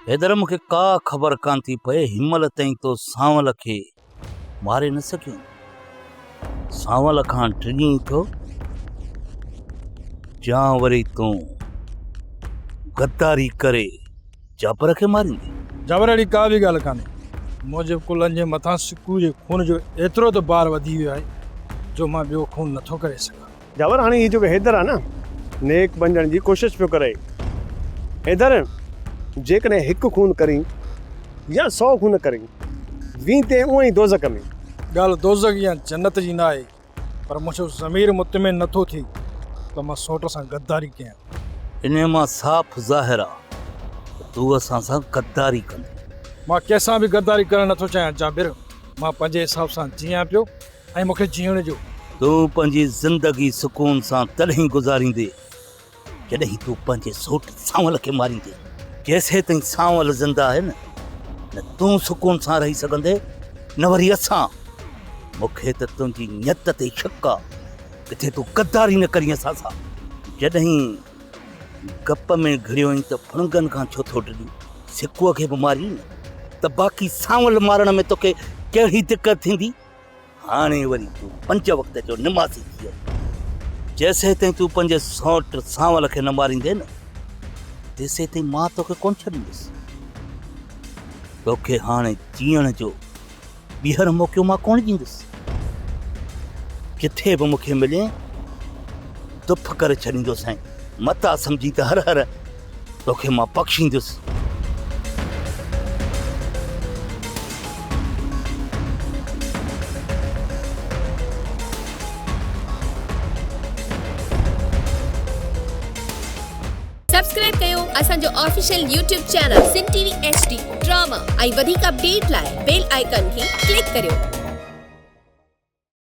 حيدر مون کي ڪا خبر ڪانه ٿي پئي هينمهل تائين تو سانول کي ماري نه سگهيو سانول کان ڊڄين ٿو يا وري تون غداري ڪري جابر کي ماريندي جابر اهڙي ڪا به ڳالهه ڪانه منهنجي ڪلن جي مٿان سڪو جي خون جو ايترو ته بار وڌي ويو آهي جو مان ٻيو خون نٿو ڪري سگهان جاور هاڻي هي جيڪو حيدر آهي نه نيڪ بنجڻ جي ڪوشش پيو ڪري. حيدر! جيڪڏهن هڪ خون ڪرين يا سؤ خون ڪرين وين تين اونئين دوزخ ۾. ڳالهه دوزخ يا جنت جي ناهي پر منهنجو ضمير مطمئن نٿو ٿئي ته مان سوٽ سان غداري ڪيان. انهيء مان صاف ظاهر آ ته تون اسان سان غداري ڪندين. مان ڪنهن سان به غداري ڪرڻ نٿو چاهيان جابر. مان پنهنجي حساب سان جيئان پيو. ۽ مون کي جيئڻ ڏيو. تون پنهنجي زندگي سڪون سان تڏهن گذاريندين جڏهن تون پنهنجي سوٽ سانول کي ماريندين. جيسيتائين سانول زنده آهي نه تون سڪون سان رهي سگهندين نه وري اسان. مون کي ته تنهنجي نيت تي شڪ آ ڪٿي تون غداري نه ڪرين اسان سان. جڏهن گپ ۾ گهڙيوئين ته ڦڻگن کان ڇو ٿو ڊڄين؟ سڪوء کي به مارين نه ته باقي سانول مارڻ ۾ توکي ڪهڙي دقت ٿيندي؟ هاڻي وري تون پنج وقت جو نمازي ٿي ويو جيسيتائين تون پنهنجي سوٽ سانول کي نه ماريندين نه تيسيتائين مان توکي ڪونه ڇڏيندس توکي هاڻي جيئڻ جو ٻيهر موقعو مان ڪونه ڏيندس ڪٿي به مونکي ملين دف ڪري ڇڏيندو سائين متا سمجهي ته هر هر توکي مان بخشيندس. سبسڪرائب ڪيو اسان جو official YouTube channel Sindh T V H D drama ۽ وڌيڪ اپڊيٽ لاء بيل آئيڪان کي ڪلڪ ڪريو.